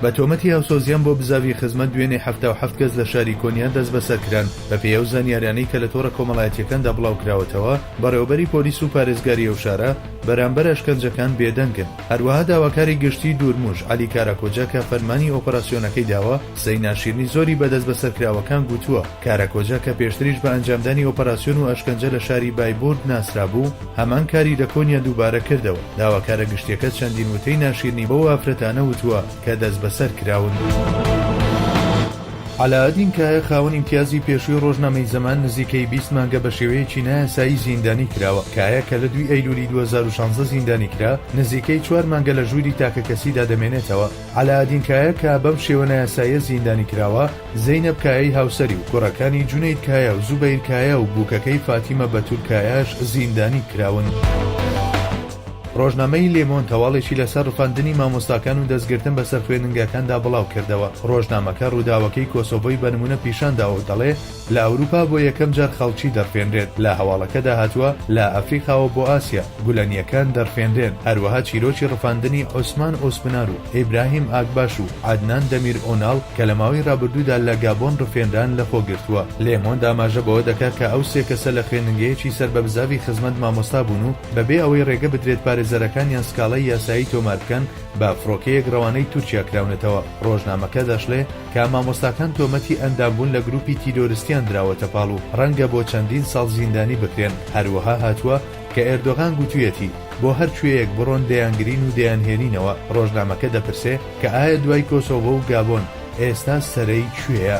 بە تۆمەتی هاوسۆزییان بۆ بزاڤی خزمەت دوێنێ حەفتا و حەفت کەس لە شاری کۆنیان دەستبەسەر کران بەپێی ئەو زانیاریانەی کە لە تۆڕە کۆمەڵایەتییەکاندا بڵاوکراوەتەوە بەڕێوەبەری پۆلیس و پارێزگاری ئەو شارە بەرامبەر ئەشکەنجەکان بێدەنگن هەروەها داواکاری گشتیی دوورموژ عەلی کاراکۆجا کە فەرمانی ئۆپەراسیۆنەکەی داوە، قسەی ناشیرنی زۆری بە دەستبەسەرکراوەکان گوتووە، کاراکۆجا کە پێشتریش بە ئەنجامدانی ئۆپەراسیۆن و ئەشکەنجە لە شاری بایبورت ناسرابوو، هەمان کاری لە کۆنیا دووبارە کردەوە، داواکارە گشتییەکە چەندین وتەی ناشیرنی بەو ئافرەتانە وتووە کە دەستبەسەرکراون. عەلائەدین کایا خاوەن ئیمتیازی پێشووی ڕۆژنامەی زەمان نزیکەی بیست مانگە بە شێوەیەکی نایاسایی زیندانی کراوە. کایا کە لە دووی ئەیلوولی دوو هەزار و شانزە زیندانی کرا، نزیکەی چوار مانگە لە ژووری تاکەکەسیدا دەمێنێتەوە. عەلائەدین کایا کە بەم شێوە نایاساییە زیندانی کراوە، زەینەب کایای هاوسەری و کوڕەکانی جونەید کایا و زوبەیر کایا و بووکەکەی فاتیمە بەتول کایاش زیندانی کراون. ڕۆژنامەی لێمۆند هەواڵێکی لەسەر ڕفاندنی مامۆستاکان و دەستگرتن بەسەر خوێندنگاکاندا بڵاوکردەوە، ڕۆژنامەکە ڕووداوەکەی کۆسۆڤۆی بە نموونە پیشانداوە و دەڵێ لە ئەوروپا بۆ یەکەم جار خەڵکی دەڕفێنرێت، لە هەواڵەکەدا هاتووە لە ئەفریقاوە بۆ ئاسیا گولەنییەکان دەڕفێنرێن، هەروەها چیرۆکی ڕفاندنی عوسمان ئۆسپنار و ئیبراهیم ئاگباش و عەدنان دەمیر ئۆناڵ کە لە ماوەی ڕابردوودا لە گابۆن ڕفێنران لەخۆ گرتووە. لێمۆند ئاماژە بەوە دەکا کە ئەو سێ کەسە لە خوێندنگەیەکی سەر بە بزاڤی خزمەت مامۆستا بوون و بەبێ ئەوەی ڕێگە بدرێت پارێزەرەکانیان سکاڵای یاسایی تۆمار بکەن، بە فڕۆکەیەک ڕەوانەی تورکیا کراونەتەوە، ڕۆژنامەکە دەشڵێ کە مامۆستاکان تۆمەتی ئەندامبوون لە گروپی تیرۆرستیان دراوەتە پاڵ و ڕەنگە بۆ چەندین ساڵ زیندانی بکرێن، هەروەها هاتووە کە ئێردۆغان گوتوویەتی بۆ هەر کوێیەک بڕۆن دەیانگرین و دەیانهێنینەوە، ڕۆژنامەکە دەپرسێ کە ئایا دوای کۆسۆڤۆ و گابۆن ئێستا سەرەی کوێیە؟